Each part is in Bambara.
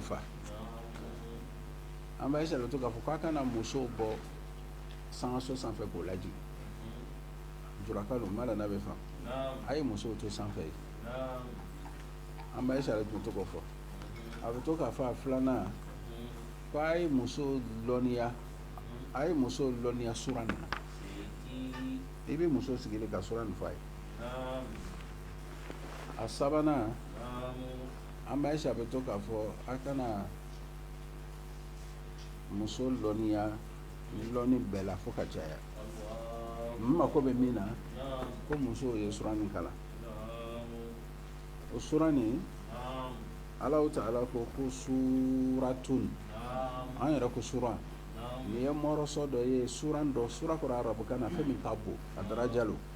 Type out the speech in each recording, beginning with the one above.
fa an ba Ayisa le to k'a fɔ k'a kana muso bɔ sankaso sanfɛ k'o lajii juraka don ma bɛ faa a ye muso to sanfɛ yen an ba Ayisa le tun to k'o fɔ a bɛ to k'a fɔ a filanan ko a ye muso lɔnniya a ye muso lɔnniya suran nin na i bɛ muso sigilen ka suran nin fɔ a ye a sabanan an ba Ayisa bɛ to k'a fɔ aw kana muso lɔnniya lɔnni bɛɛ la fo ka caya n mako bɛ min na ko muso ye suran nin kalan o suran nin alahu taala ko ko suratun an yɛrɛ ko suran nin ye mɔrɔsɔ dɔ ye suran dɔ sura kɔrɔ arabukan na fɛn min ka bon a daraja lo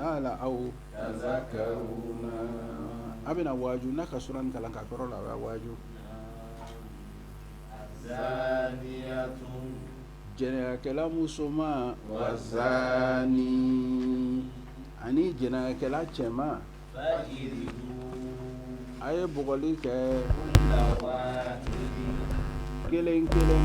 ala aw a bɛna waaju n'a ka suran nin kalan ka kɔrɔ la a bɛ waaju jɛnɛyakɛla musoman wazani ani jɛnɛyakɛla cɛman a ye bugɔli kɛ kelen kelen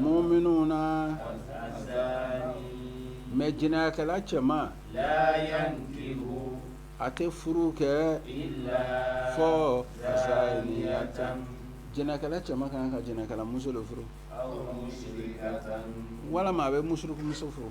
Muminu na mɛ jɛnɛyakɛla cɛman a tɛ furu kɛ fɔ jɛnɛyakɛla cɛman ka kan ka jɛnɛyakɛlamuso de furu walima a bɛ musiriku muso furu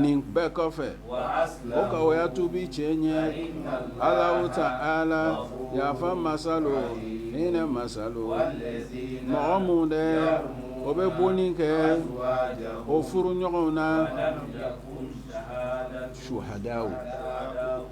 nin bɛɛ kɔfɛ o ka o ya tuubi cɛ ɲɛ alahu taala yaafa masa lo hinɛ masa lo mɔgɔ minnu dɛ o bɛ bonni kɛ o furu ɲɔgɔnw na suhadaw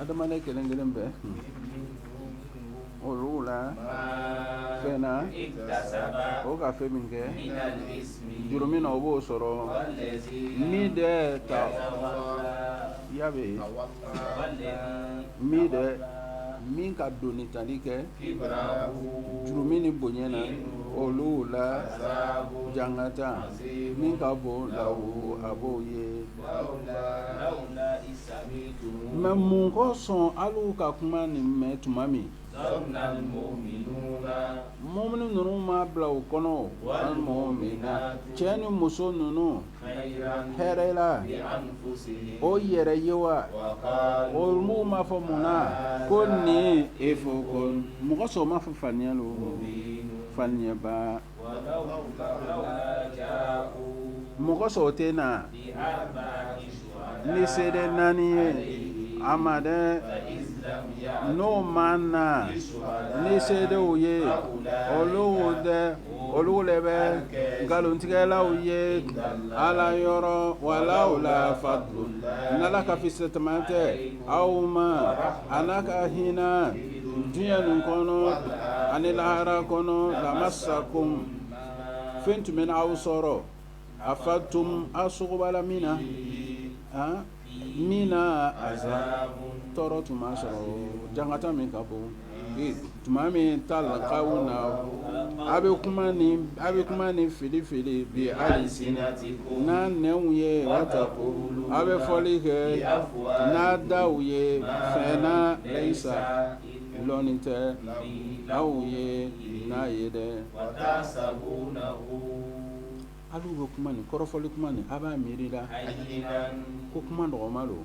adamaden kelen kelen bɛɛ olu la fɛn na o ka fɛn min kɛ jurumun na o b'o sɔrɔ min dɛ ta ya bɛ yen min dɛ min ka doni tali kɛ jurumun nin bonya na olu la jangata min ka bon lahu a b'o ye Mɛ mun kosɔn alu ka kuma nin mɛn tuma min mumini ninnu ma bila u kɔnɔ cɛ ni muso ninnu hɛrɛ la o yɛrɛ ye wa olu ma fɔ mun na ko nin ifukun mɔgɔ sɔn ma fɔ faniya don faniyaba mun kosɔn o tɛ na ni seede naani ye a ma dɛ n'o ma na ni seedew ye olu wo dɛ olu le bɛ nkalontigɛlaw ye ala yɔrɔ walawla fadlu n'ala ka fisamanteya tɛ aw ma a n'a ka hinɛ Diɲɛ nin kɔnɔ ani lahara kɔnɔ lamasakum fɛn tun bɛ na aw sɔrɔ afadtum aw sogobala min na min na azabu tɔɔrɔ tun b'a sɔrɔ jankata min ka bon tuma min talakawna a bɛ kuma nin filifili bi a n'a nɛnw ye wataqulu a bɛ fɔli kɛ n'a daw ye fɛn na laysa lɔnni tɛ aw ye n'a ye dɛ alu bɛ kuma nin kɔrɔfɔli kuma nin a b'a miiri la ko kuma nɔgɔman don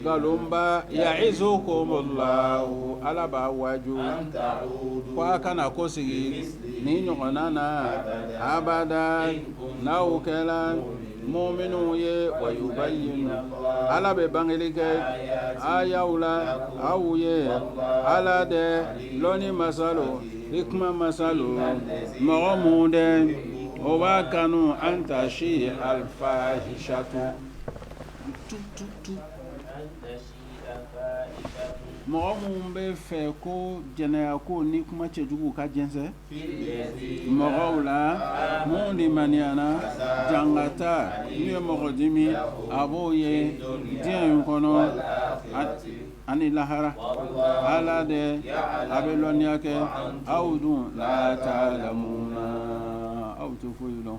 nkalonba ya'izukumullah ala b'a waju ko a kana kɔsegi nin ɲɔgɔnna na abada n'aw kɛla muminu ye wa yubayyinu ala bɛ bangeli kɛ aayaw la aw ye ala dɛ lɔnni masa lo hikima masa lo mɔgɔ minnu dɛ o b'a kanu an tashi'a alfahishatu Mɔgɔ minnu b'a fɛ ko jɛnɛyako ni kuma cɛjugu ka jɛnsɛn mɔgɔw la minnu limaniyana jankata min ye mɔgɔ dimi a b'o ye diɲɛ in kɔnɔ ani lahara ala de a bɛ lɔnniya kɛ aw dun la ta'lamuna aw tɛ foyi lɔn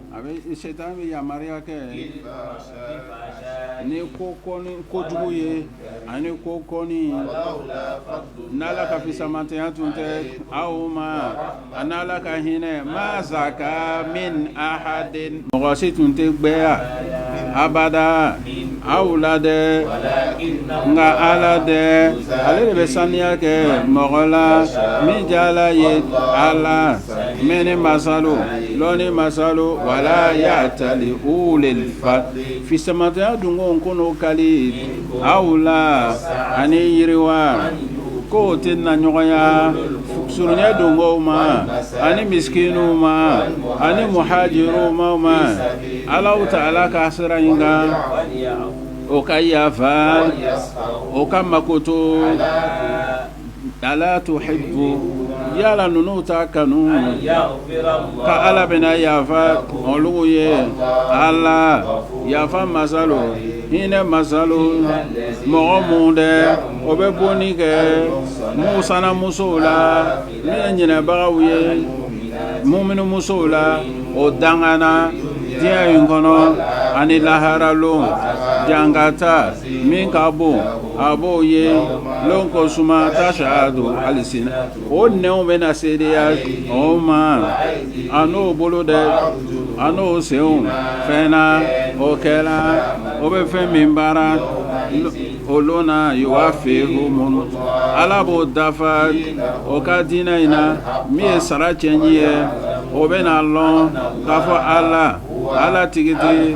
a bɛ setani bɛ yamaruya kɛ ni kojugu ye ani ko kɔnnin n' ala ka fisamanteya tun tɛ aw ma a n' ala ka hinɛ ma zaka min ahadin mɔgɔ si tun tɛ gbɛya abada aw la dɛ nka ala dɛ ale de bɛ saniya kɛ mɔgɔ la min diyala a ye ala mɛnni masa lo lɔnni masa lo wala ya'tali ulul fadli fisamanteya dungow kana kali aw la ani yiriwa k'o tɛ na ɲɔgɔnya surunya dungow ma ani miskinuw ma ani muhajiruw ma ala ta'ala ka sira in kan o ka yafa o ka makoto Ala tuhibu yala ninnu t'a kanu ka ala bɛna yafa olu ye ala yafa masa lo hinɛ masa lo mɔgɔ minnu dɛ o bɛ bonni kɛ musana musow la ne ye ɲinɛbagaw ye muminu musow la o dangana diɲɛ in kɔnɔ ani lahara lon jangata Min ka bon a b'o ye lon ko suma tashahadu alisina o nɛnw bɛ na seedeya o ma a n'o bolo dɛ a n'o senw fɛn na o kɛla o bɛ fɛn min baara o lon na yuwafihumu ala b'o dafa o ka diinɛ in na min ye sara cɛn in ye o bɛ na lɔn k'a fɔ ala ala tigitigi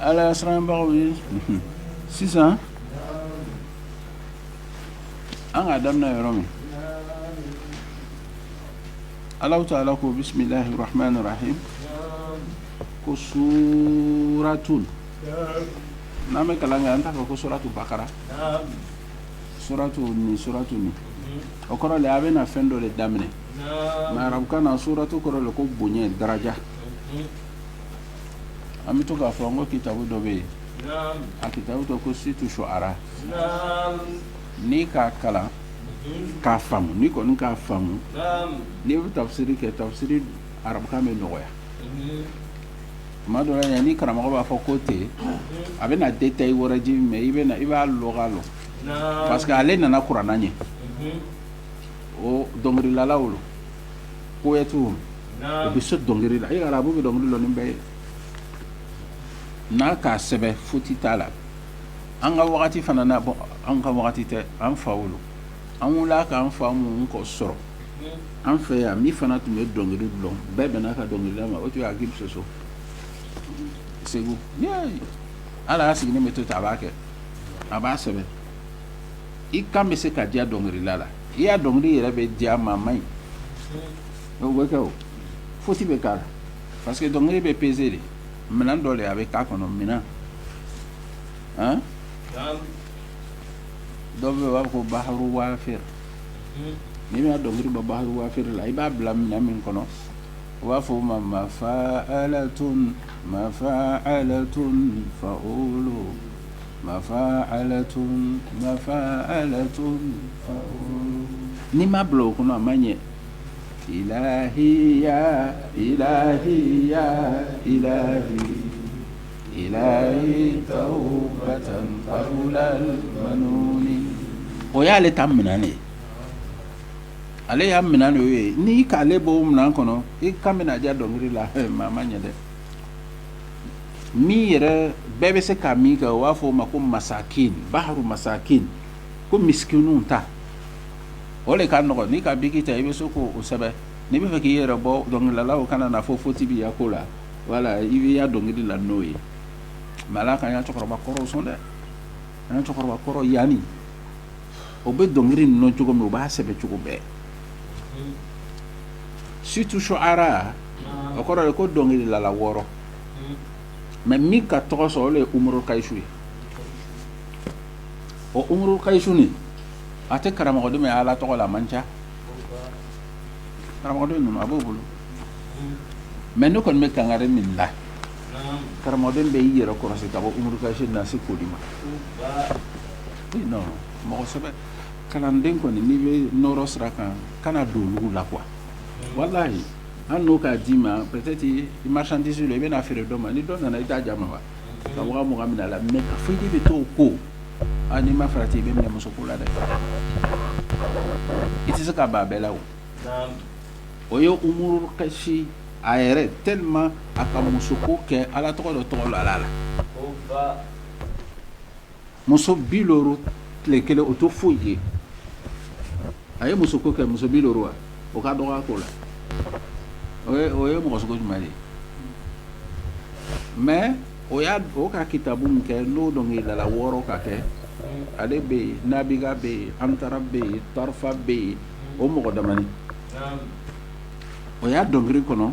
Ala siranbagaw ye sisan an ka daminɛ yɔrɔ min alahu taala ko bisimilahi rahmani rahim ko suratun n'an bɛ kalan kɛ an t'a fɔ ko suratu bakara suratu ni suratu ni o kɔrɔ le a bɛ na fɛn dɔ de daminɛ mais arabukan na suratu kɔrɔ le ko bonya daraja an bɛ to k'a fɔ an ko kitabu dɔ bɛ yen a kitabu tɔgɔ ko situ shuara n'i k'a kalan k'a faamu n'i kɔni k'a faamu n'i bɛ tafsiri kɛ tafsiri arabukan bɛ nɔgɔya tuma dɔ yan ni karamɔgɔ b'a fɔ ko ten a bɛ na détail wɛrɛ di mais i b'a lɔga lɔ parce que ale nana kurana ɲɛ o dɔnkililalaw lo poètes u bɛ se dɔnkili la e arabu bɛ dɔnkili lɔn bɛɛ ye n'a k'a sɛbɛn foti t'a la an ka wagati fana na bon an ka wagati tɛ an faw lo an wulila k'an fa minnu kɔ sɔrɔ an fɛ yan min fana tun bɛ dɔnkili dɔn bɛɛ bɛn'a ka dɔnkilila ma o tun ye Agibu Soso Segu ale a sigilen bɛ to ten a b'a kɛ a b'a sɛbɛn i kan bɛ se ka diya dɔnkilila la i y'a dɔnkili yɛrɛ bɛ diya maa ma ɲi bɛ kɛ o foti bɛ k'a la parce que dɔnkili bɛ peze de minɛn dɔ de a bɛ k'a kɔnɔ minɛn dɔ bɛ yen u b'a fɔ ko baharu wafir n'i bɛna dɔnkili bɔ baharu wafir la i b'a bila minɛn min kɔnɔ u b'a fɔ o ma mafaalatun mafaalatun faulu mafa'alatun mafa'alatun n'i ma bila o kɔnɔ a ma ɲɛ ilahi ya ilahi ya ilahi tawbatan qabla al-manuni o y'ale ta minɛn de ale y'a minɛn de ye n'i k'ale bɔ o minɛn kɔnɔ i kan bɛna diya dɔnkili la mɛ a ma ɲɛ dɛ min yɛrɛ bɛɛ bɛ se ka min kɛ u b'a fɔ o ma ko masakin baharu masakin ko miskinw ta o de ka nɔgɔ n'i ka biki ta i bɛ se k'o sɛbɛn n'i bɛ fɛ k'i yɛrɛ bɔ dɔnkililalaw kana na fɔ foti b'i ya ko la wala i b'i ya dɔnkili la n'o ye mɛ ala k'an ya cɛkɔrɔba kɔrɔw sɔn dɛ an ya cɛkɔrɔba kɔrɔ yaani o bɛ dɔnkili ninnu cogo min o b'a sɛbɛn cogo bɛɛ surtout shu'ara o kɔrɔ de ko dɔnkililala wɔɔrɔ mɛ min ka tɔgɔ sɔrɔ o de ye umuru kayisu ye o umuru kayisu nin a tɛ karamɔgɔden ye ala tɔgɔ la a man ca karamɔgɔden ninnu a b'o bolo mɛ ne kɔni bɛ kangari min la karamɔgɔden bɛɛ y'i yɛrɛ kɔlɔsi ka bɔ umuru kayisu na se k'o di ma mɔgɔ sɛbɛ kalanden kɔni n'i bɛ nɔɔrɔ sira kan kana don olu la quoi walayi an n'o k'a d'i ma peut-être i marchandise lo i bɛna a feere dɔ ma ni dɔ nana i t'a jama wa ka mɔgɔ min la mɛ ka fɔ i bɛ to ko n'i ma farati i bɛ minɛ muso ko la dɛ i tɛ se ka b'a bɛɛ la o o ye umuru kayisi a yɛrɛ tellement a ka muso ko kɛ ala tɔgɔ dɔ tɔgɔ la ala la muso bi looru tile kelen o tɛ foyi ye a ye muso ko kɛ muso bi looru wa o ka dɔgɔ a ko la o ye mɔgɔ sugu jumɛn de ye mɛ o ka kitabu min kɛ n'o dɔnkililala wɔɔrɔ ka kɛ ale bɛ yen nabiga bɛ yen antara bɛ yen tarafa bɛ yen o mɔgɔ damani o ya dɔnkili kɔnɔ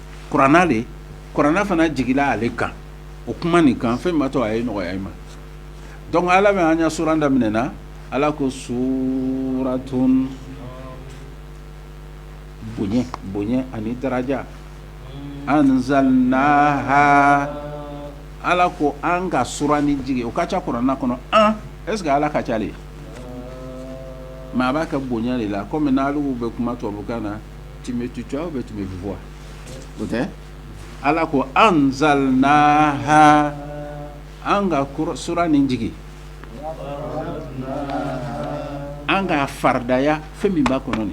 kuranɛ de kuranɛ fana jigila ale kan o kuma nin kan fɛn b'a to a ye nɔgɔya i ma dɔnku ala bɛ an ya sura daminɛ min na ala ko suratun bonya bonya ani daraja anzalnaha ala ko an ka sura nin jigi o ka ca kuranɛ kɔnɔ est-ce que ala ka ca de mɛ a b'a ka bonya de la kɔmi bɛ kuma tubabu kan na ala ko anzalnaha an ka sura nin jigi an k'a faridaya fɛn min b'a kɔnɔ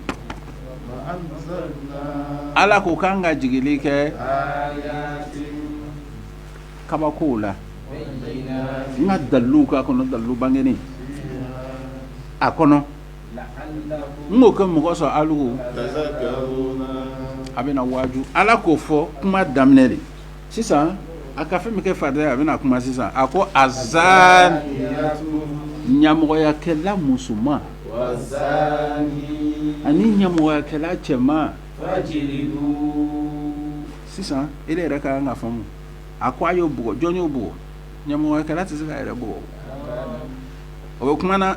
ala ko k'an k'a jigili kɛ kabako la n ka dalu k'a kɔnɔ dalu bangenin a kɔnɔ n'o kɛ mɔgɔ sɔrɔ ali a bɛna waju ala k'o fɔ kuma daminɛ de sisan a ka fɛn min kɛ farida a bɛna kuma sisan a ko azza ɲamɔgɔyakɛla musoman ani ɲamɔgɔyakɛla cɛman sisan e yɛrɛ ka kan k'a faamu a ko a y'o bugɔ jɔn y'o bugɔ ɲamɔgɔyakɛla tɛ se k'a yɛrɛ bugɔ o bɛ kuma na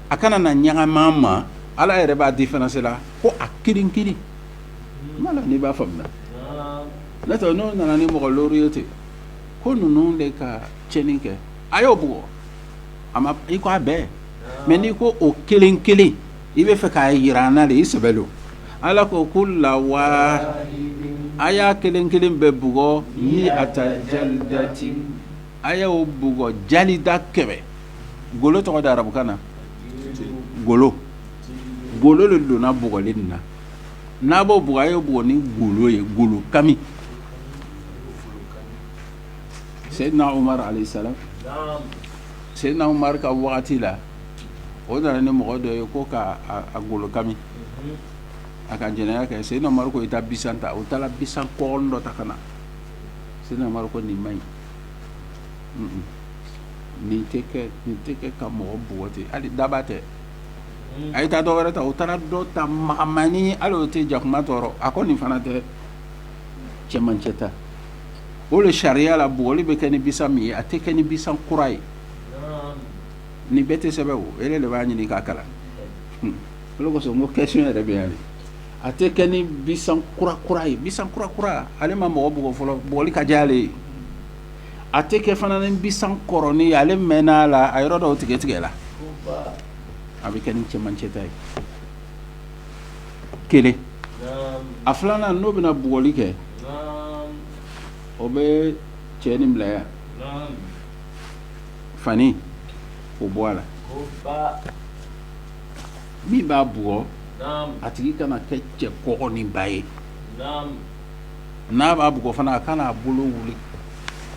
a kana na ɲagami a ma ala yɛrɛ b'a différencier la ko a kelen kelen ma la n'i b'a faamu na nɔntɛ n'o nana ni mɔgɔ looru ye ten ko ninnu de ka cɛnni kɛ a y'o bugɔ a ma i ko a bɛɛ mɛ n'i ko o kelen kelen i b'a fɛ k'a jira an na de i sɛbɛ don ala ko kulla wa a y'a kelen kelen bɛɛ bugɔ miata jaldati a y'o bugɔ jalda kɛmɛ golo tɔgɔ da arabukan na golo golo de donna bugɔli nin na n'a b'o bugɔ a y'o bugɔ ni golo ye golo kami seyidina umar alayhi salam seyidina umar ka wagati la o nana ni mɔgɔ dɔ ye ko ka a- a golo kami a ka jɛnɛya kɛ seyidina umar ko i taa bisan ta o taara bisan kɔgɔn dɔ ta ka na seyidina umar ko nin man ɲi Nin tɛ kɛ nin tɛ kɛ ka mɔgɔ bugɔ ten hali daaba tɛ unhun a ye taa dɔ wɛrɛ ta u taara dɔ ta magamannin hali o tɛ jakuma tɔɔrɔ a ko nin fana tɛ cɛmancɛ ta o de sariya la bugɔli bɛ kɛ ni bisan min ye a tɛ kɛ ni bisan kura ye naam nin bɛɛ tɛ sɛbɛn o e yɛrɛ de b'a ɲini k'a kalan hun o de kosɔn n ko question yɛrɛ bɛ yan de a tɛ kɛ ni bisan kura kura ye bisan kura kura ale ma mɔgɔ bugɔ fɔlɔ bugɔli ka ja ale ye a tɛ kɛ fana ni bisan kɔrɔnin ale mɛnna a la a yɔrɔ dɔw tigɛ tigɛ la a bɛ kɛ ni cɛmancɛta ye kelen a filanan n'o bɛna bugɔli kɛ o bɛ cɛ nin bila a y'a fani o bɔ a la min b'a bugɔ a tigi kana kɛ cɛ kɔgɔninba ye n'a b'a bugɔ fana a kana a bolo wuli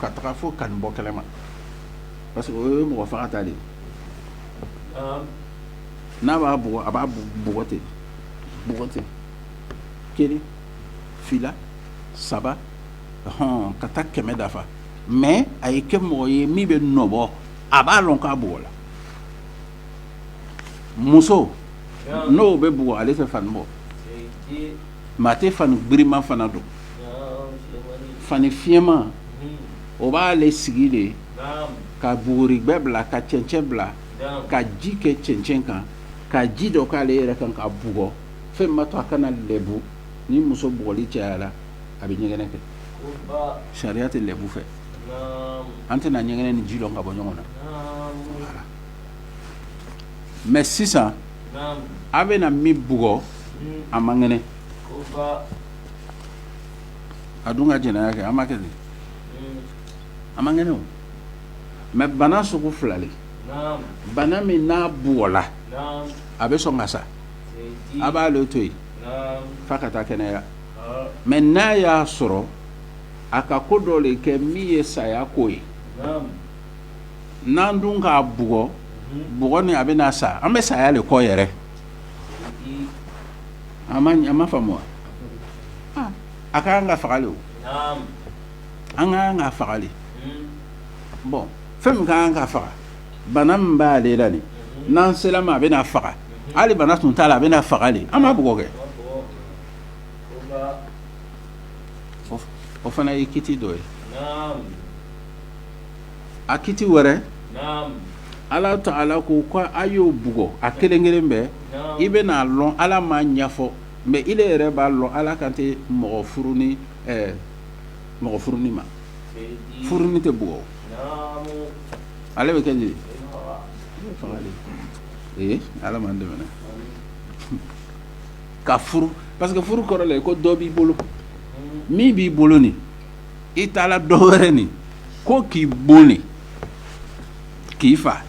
ka taga fo ka nin bɔ kɛnɛ ma parce que o ye mɔgɔ faga ta de ye n'a b'a bugɔ a b'a bugɔ ten bugɔ ten kelen fila saba hɔn ka taa kɛmɛ dafa mais a ye kɛ mɔgɔ ye min bɛ nɔbɔ a b'a lɔn k'a bugɔ la muso n'o bɛ bugɔ ale tɛ fani bɔ mais a tɛ fani girinman fana don fani fiyɛnman o b'ale sigi le ka buguri bɛɛ bila ka cɛncɛn bila ka ji kɛ cɛncɛn kan ka ji dɔ k'ale yɛrɛ kan k'a bugɔ fɛn b'a to a kana lɛbu ni muso bugɔli cayala a bɛ ɲɛgɛnɛ kɛ sariya tɛ lɛbu fɛ an tɛna ɲɛgɛnɛ ni ji lɔn ka bɔ ɲɔgɔn na mais sisan an bɛna min bugɔ a man kɛnɛ a dun ka jɛnɛya kɛ a man kɛ a man kɛnɛ o mais bana sugu fila le bana min n'a bugɔla a bɛ sɔn ka sa a b'ale to yen f'a ka taa kɛnɛya mais n'a y'a sɔrɔ a ka ko dɔ le kɛ min ye saya ko ye n'an dun k'a bugɔ bugɔ ni a bɛ na sa an bɛ saya le kɔ yɛrɛ an ma ɲɛ a m'a faamu wa aa a ka kan ka faga le o naamu an ka kan k'a faga le Mhm. bon fɛn min ka kan k'a faga bana min b'ale la nin n'an sera a ma a bɛ n'a faga hali bana tun t'a la a bɛ n'a faga le an b'a bugɔ kɛ An b'a bugɔ. O ka- o fana ye kiti dɔ ye naamu a kiti wɛrɛ ala ta'ala ko ko a y'o bugɔ a kelen kelen bɛɛ i bɛ n'a lɔn ala m'a ɲɛfɔ mais ile yɛrɛ b'a lɔn ala kan tɛ mɔgɔ furunin mɔgɔ furunin ma furunin tɛ bugɔ ale bɛ kɛ di ala m'an dɛmɛ ka furu parce que furu kɔrɔ le ko dɔ b'i bolo min b'i bolo nin i taala dɔ wɛrɛ ɲini ko k'i bon de k'i fa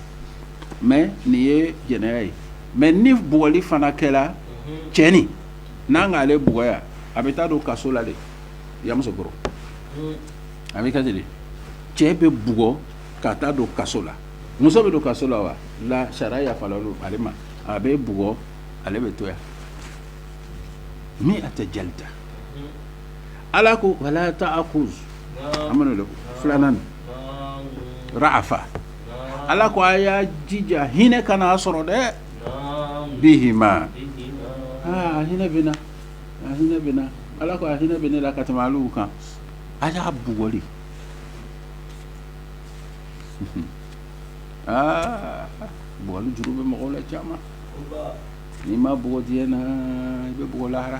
mais nin ye jɛnɛya ye mais ni bugɔli fana kɛla cɛ nin n'an k'ale bugɔ yan a bɛ taa don kaso la de yamusokɔrɔ a bɛ kɛ ten de cɛ bɛ bugɔ ka taa don kaso la muso bɛ don kaso la wa la sariya yafala ale ma a bɛ bugɔ ale bɛ to yan min a tɛ ja ta ala ko wala ta'khuzkum filanan ra'afa ala ko a y'a jija hinɛ kana a sɔrɔ dɛ bi aa hinɛ bɛ a hinɛ bɛ ala ko a hinɛ bɛ ne la ka tɛmɛ alu kan a y'a bugɔ bugɔli juru bɛ mɔgɔw la caman n'i ma bugɔ diɲɛ na i bɛ bugɔ lahara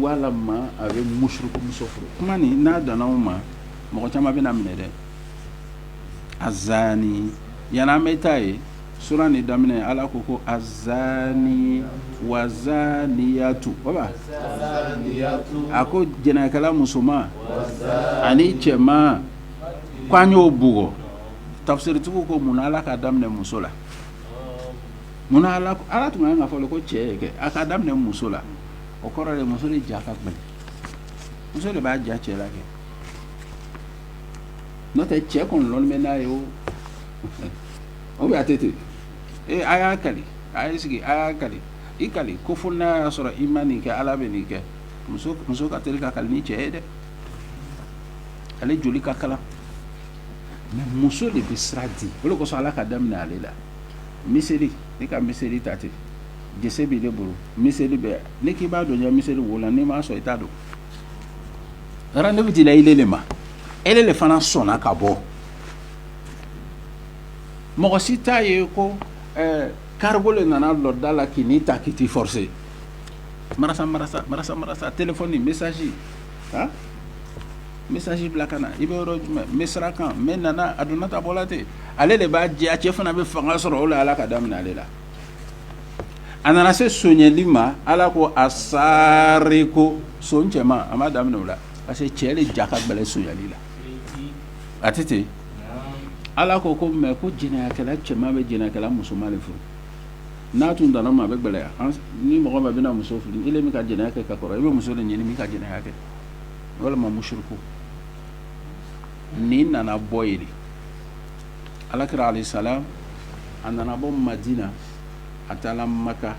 walima a bɛ mushriku muso furu kuma nin n'a danna o ma mɔgɔ caman bɛna minɛ dɛ azani yan an bɛ taa ye sura ni daminɛ ala ko ko azani wazaniyatu a ko jɛnɛkɛla musoman ani cɛman k'an y'o bugɔ tafsiritigiw ko mun na ala k'a daminɛ muso la Mun na ala tun kan ka fɔ ko cɛ ye kɛ a k'a daminɛ muso la o kɔrɔ de muso de ja ka gbɛlɛ muso de b'a ja cɛ la kɛ n'o tɛ cɛ kɔni bɛ n'a ye o o bɛ a tɛ ten ee a y'a kali a y'i sigi a y'a kali i kali ko fo n'a y'a sɔrɔ i ma nin kɛ ala bɛ nin kɛ muso ka teli ka kali ni cɛ ye dɛ ale joli ka kalan mais muso de bɛ sira di o de kosɔn ala ka daminɛ ale la miseli ne ka miseli ta ten gese b'ile bolo miseli bɛ ne k'i b'a don n ya miseli wo la n'i ma sɔn i t'a don rendez-vous dila ile de ma ile de fana sɔnna ka bɔ mɔgɔ si t'a ye ko ɛɛ cargo de nana lɔ da la k'i n'i ta k'i t'i forcer marasa marasa marasa marasa téléphone message Aa message bila ka na i bɛ yɔrɔ jumɛn n bɛ sira kan n bɛ nana a donna ta bɔ la ten ale de b'a jɛ a cɛ fana bɛ fanga sɔrɔ o la ala ka daminɛ ale la a nana se sonyali ma ala ko assariku son cɛman a ma daminɛ o la parce que cɛ de ja ka gbɛlɛ sonyali la a tɛ ten ala ko ko mɛ ko jɛnɛyakɛla cɛman bɛ jɛnɛyakɛla musoman de furu n'a tun danna ma a bɛ gbɛlɛya ni mɔgɔ ma bɛna muso furu e min ka jɛnɛya kɛ ka kɔrɔ i bɛ muso de ɲini min ka jɛnɛya kɛ walima mushriku nin nana bɔ yen ala kira alayhi salam a nana bɔ madina a taara maka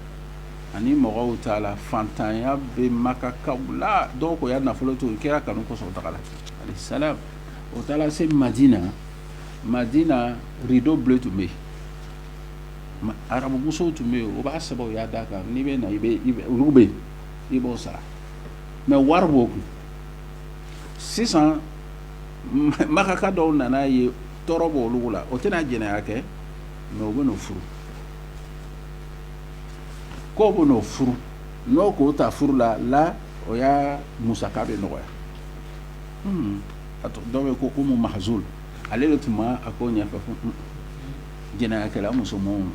ani mɔgɔw taala fantanya bɛ makakaw la dɔw k'u ya nafolo to kira kanu kɔsɔn tagala alayhi salam o taara se madina madina rideau bleu tun bɛ yen arabumusow tun bɛ yen o b'a sɛbɛn o ya da kan n'i bɛ na olu bɛ yen i b'o sara mais wari b'o kun sisan makaka dɔw nana a ye tɔɔrɔ b'olu la o tɛna jɛnɛya kɛ mais o bɛn'o furu k'o bɛn'o furu n'o k'o ta furu la la o ya musaka bɛ nɔgɔya a dɔw bɛ ko ko Umu Mahzul ale de tun b'a ko ɲɛfɛ jɛnɛyakɛla musomanw ma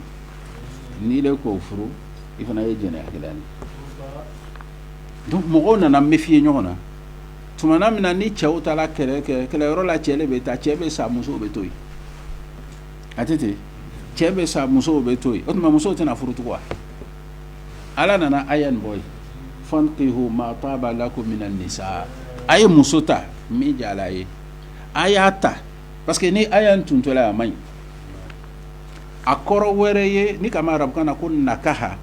n'i le k'o furu i fana ye jɛnɛyakɛla ye donc mɔgɔw nana méfier ɲɔgɔn na tumana min na ni cɛw taara kɛlɛ kɛ kɛlɛyɔrɔ la cɛ le bɛ taa cɛ bɛ sa musow bɛ to yen a tɛ ten cɛ bɛ sa musow bɛ to yen o tuma musow tɛna furu tugun wa ala nana aya nin bɔ yen fankihu ma taaba lakum mina nisa a ye muso ta min diyara a ye a y'a ta parce que ni aya in tun tola a man ɲi a kɔrɔ wɛrɛ ye n'i k'a mɛn arabukan na ko nakaha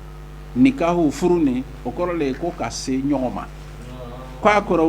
nikahu furu nin o kɔrɔ le ye ko ka se ɲɔgɔn ma k' a kɔrɔ